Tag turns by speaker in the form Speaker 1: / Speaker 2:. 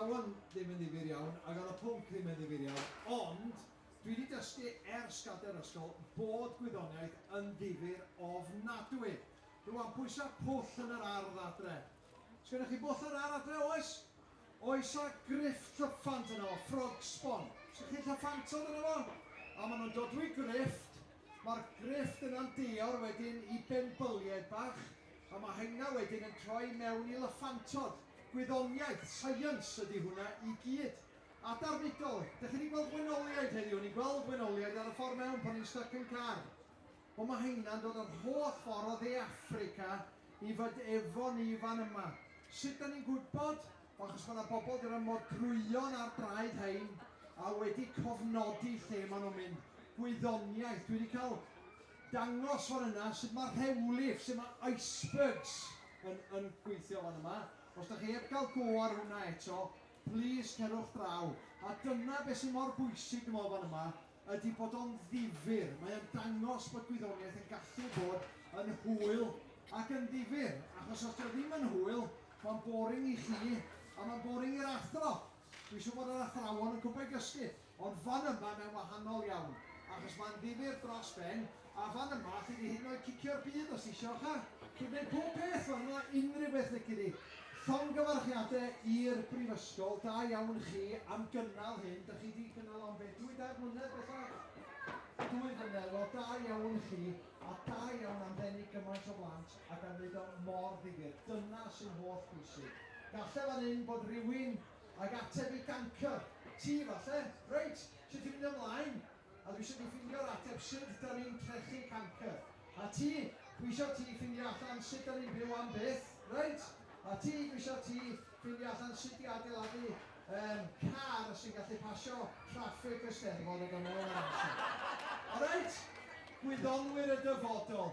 Speaker 1: Iawn, ddim yn ddifyr iawn, ac ar y pwnc ddim yn ddifyr iawn, ond dwi wedi dysgu ers gadair ysgol bod gwyddoniaeth yn ddifyr ofnadwy. Rwan, pwysa pwll yn yr ardd adre. Sgennoch chi bwll yn yr ardd adre, oes? Oes a griff llyffant yno fo, frog sbon. Sgennoch chi llyffantod yno fo? A ma nhw'n dodwy grifft, ma'r grifft yna'n deuawr wedyn i benbyliaid bach. A mae hynna wedyn yn troi mewn i lyffantod, gwyddoniaeth, science ydy hwnna i gyd. A darnidol. Dych chi 'di gweld wenoliaid heddiw? O'n i'n gweld wenoliaid ar y ffordd mewn pan o'n i'n styc yn car. Wel mae heina'n dod yr holl ffordd o Dde Affrica i fod efo ni fan yma. Sut 'dan ni'n gwybod? Wel achos mae 'na bobl 'di rhoi modrwyon ar draed rhein a wedi cofnodi lle maen nhw'n mynd. Gwyddoniaeth. Dwi 'di cael dangos fan yna sut mae'r rhewlif, sut mae icebergs yn yn gweithio fan yma. Os dach chi heb gael go ar hwnna eto, plîs cerwch draw. A dyna beth sy'n mor bwysig dwi'n meddwl fan yma, ydy bod o'n ddifyr. Mae o'n dangos bod gwyddoniaeth yn gallu bod yn hwyl ac yn ddifyr, achos os 'di o ddim yn hwyl, mae'n boring i chi a mae'n boring i'r athro. Dwi siŵr bod yr athrawon yn gwbod gysgu, ond fan yma mae'n wahanol iawn, achos mae'n ddifyr dros ben, a fan yma alli di hyd yn oed cicio'r byd os isio, cha? Chi'n gwneud pob peth fan yma, unrhyw beth lici di. Llongyfarchiade i'r Brifysgol, da iawn chi am gynnal hyn, dych chi di cynnal o am be, dwy dair mlynedd bellach? Dwy flynedd, wel da iawn chi, a da iawn am ddenu gymaint o blant. a gan wneud o mor ddifyr. Dyna sy'n holl bwysig. Galle fan hyn bod rywun ag ateb i gancr. Ti falle? Reit, sut dwi'n mynd ymlaen? A dwi isio ti ffindio'r ateb sut dan ni'n trechu cancr. A ti? Dwi isio ti ffindio allan sut dan ni'n byw am byth. Reit? A ti? Dwi isio ti ffindio allan sut i adeiladu yym car sy'n gallu pasio traffig y Steddfod a dod nôl ar amser. Alright? Gwyddonwyr y dyfodol.